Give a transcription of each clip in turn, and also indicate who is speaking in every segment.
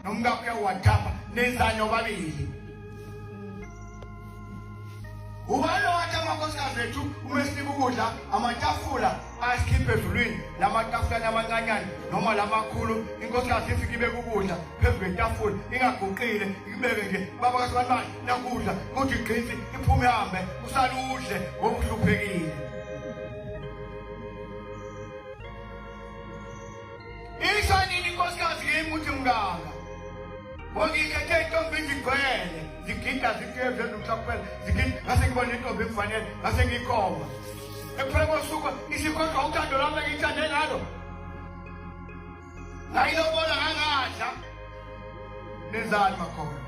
Speaker 1: nomkakho uyawuwathapha nenzani obabili ubani owathi amakhosikazi ethu uma esinika ukudla amatafula asikhiphe ezulwini la matafulani amancanyane noma la makhulu inkosikazi ifike ibeke ukudla phezu kwetafula ingaguqile ikubeke nje baba kasebantu bayo nakudla kuthi igqinsi iphume hambe usale udle ngokuhluphekile Isho nini inkosikazi yimi ukuthi mngaka? Ngokikhethe intombi izigcwele, zigida zigeze nomhlakupela, zigida ngase ngibona intombi kufanele, ngase ngikhomba. Ekuphela kosuku isikhohlwa uthando lami engithande ngalo. Ngayilobola ngangadla. Nenzani makhona?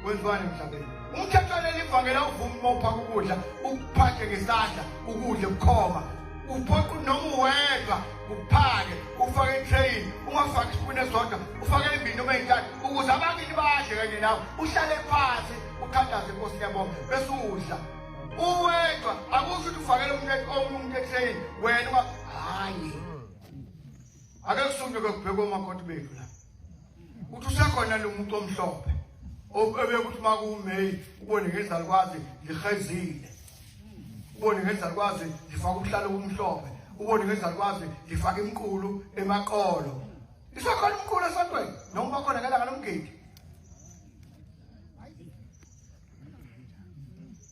Speaker 1: Kwenziwani emhlabeni? Umthethwane livangela uvuma uma uphaka ukudla, ukuphathe ngesandla, ukudle bukhoma. Uphoqa noma uwedwa uphake, ufake itrain, ungafaki isipuni esodwa, ufake imbini noma eyintathu ukuze abakini badle kanye nawe. Uhlale phansi, ukhandaze inkosi yabonga bese udla. Uwedwa akusho ukuthi ufakele umuntu omunye umuntu etrain, wena hayi. ake kusunyuke kubhekwe omakoti bethu la ukuthi usekhona lo muntu omhlophe obekuthi uma kuwumeyi ubone ngezalukwazi lihezile ubone ngezalukwazi lifaka ubuhlalo obumhlophe ubone ngezalukwazi lifaka imqulu emaqolo isekhona umqulu esontweni noma bakhona ngelanga lomgidi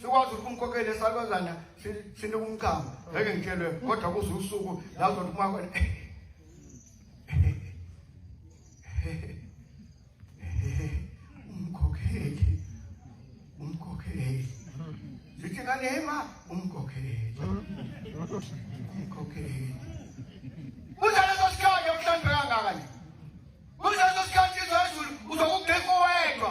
Speaker 1: sikwazi ukuthi umkhokhele esalwazana sinika umchamo ngeke ngitshelwe kodwa kuze usuku la uzothi umakho umkhokheli umkhokheli zithi ngane hema umkhokheli umkhokheli kuze leso sikhathi okuhlanzeka kangaka nje kuze leso sikhathi izwe ezulu uzokugqika uwedwa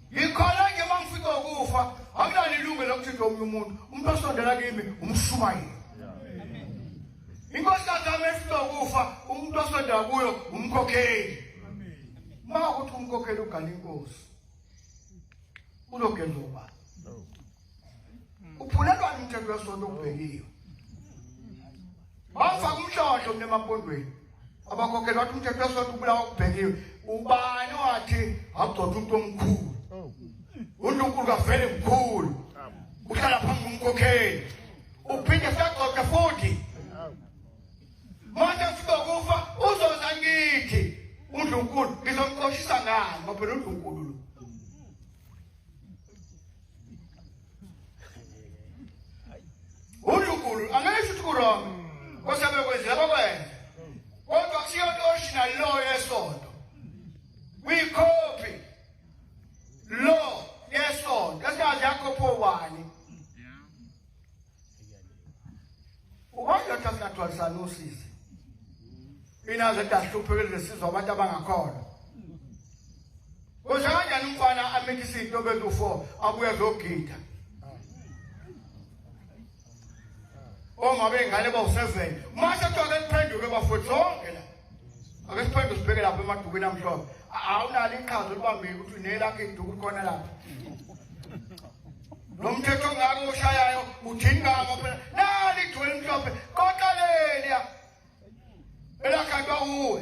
Speaker 1: Ngikhona-ke uma ngifika ukufa akunalo ilungelo lokuthinta omunye umuntu umuntu osondela kimi umshumayeli inkosi kagama efika ukufa umuntu osondela kuyo umkhokheli uma ukuthi umkhokheli ugala inkosi uzogenza ubani uphulelwa umthetho wesonto okubekiwe bafaka umshosho mina emapondweni abakhokhela wathi umthetho wesonto ubulawa kubhekiwe ubani wathi agcotha umuntu omkhulu uNkulunkulu kavele mkhulu uhlala phambi komkhokheli uphinde sagcotha futhi manje sizokufa uzoza ngithi uNkulunkulu ngizomqoshisa ngani ngoba uNkulunkulu uNkulunkulu angeke futhi kurong kosabe kwenzeka bakwenze kodwa kusiyo original law yesonto kwikhophi law yesonto esingazi yakho phowani Ukwanda ukuthi singadwalisana usizi. Mina nje ngahluphekile lesizwa abantu abangakhona. Kusho kanjani umfana amithe isinto bezu 4 abuye zogida. Oma bengane bawu 7. Mase kuthiwa kuphenduke bafowethu zonke la. ake siphinde sibheke lapha emadukweni amhlophe awunalo iqhaza olibambile ukuthi unelakho iduku khona lapha lo mthetho ongaka oshayayo uthini ngako phela nali ithole elimhlophe koqaleliya elakhandwa uwe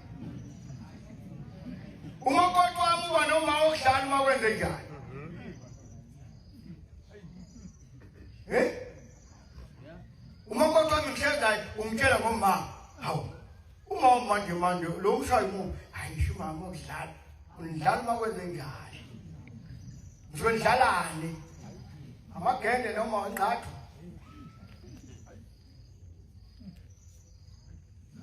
Speaker 1: uma uqoqa wami uba noma okudlala uma kwenze njani eh uma uqoqa wami ngihlezi umtshela ngomama hawu uma manje manje lo mshayi mu hayi ngisho umama okudlala undlala uma kwenze njani ngisho ndlalani amagende noma ngqathu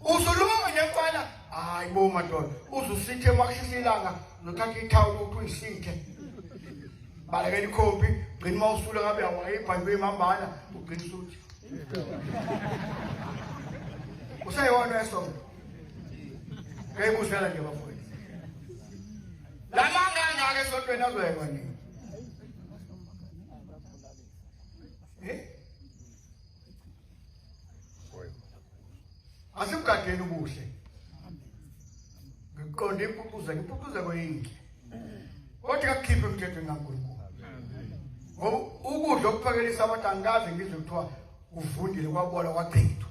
Speaker 1: Uzuluma nefana hayi bo madoda uzusithe makushisa ilanga nothatha ithawula ukuthi uyisithe balekela ikhompi gcina uma usula ngabe awayibhani beyimambana ugcina usuthi useyona esona ngeyibusela nje bafowethu la manga angaka esontweni azoyekwa nini asimgadeni ubuhle ngiqonde impucuza impucuzeko yinhle kodwa kakukhiphe emthethweni kankulunkulu ngoba ukudla okuphakelisa abantu angikaze ngizwe kuthiwa kuvundile kwabola kwachithwa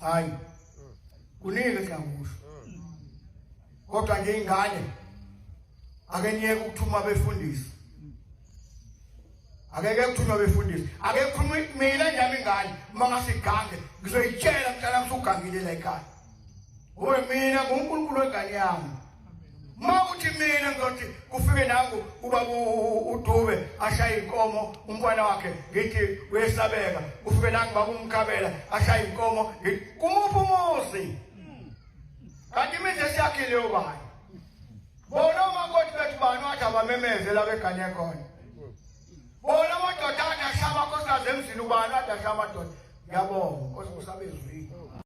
Speaker 1: hayi kuningi engakusho kodwa nje ingane ake niyeke ukuthuma befundisi akeke kuthunywa befundisi ake khuluma mina njami ingane uma ngasigange ngizoyitshela mntana msugangile la ekhaya ngoba mina ngunkulunkulu wengane yami mawuthi mina ngizothi kufike nangu uba udube ashaye inkomo umfana wakhe ngithi uyesabeka ufike nangu bakumkhabela ashaye inkomo kumuphi umuzi kanti imizi esiyakhile ubani bona umakoti bethu bani wathi abamemeze la begane khona bona amadoda athi ashaya amakosikazi emzini ubani wathi ashaya amadoda ngiyabonga nkosi kusabezwini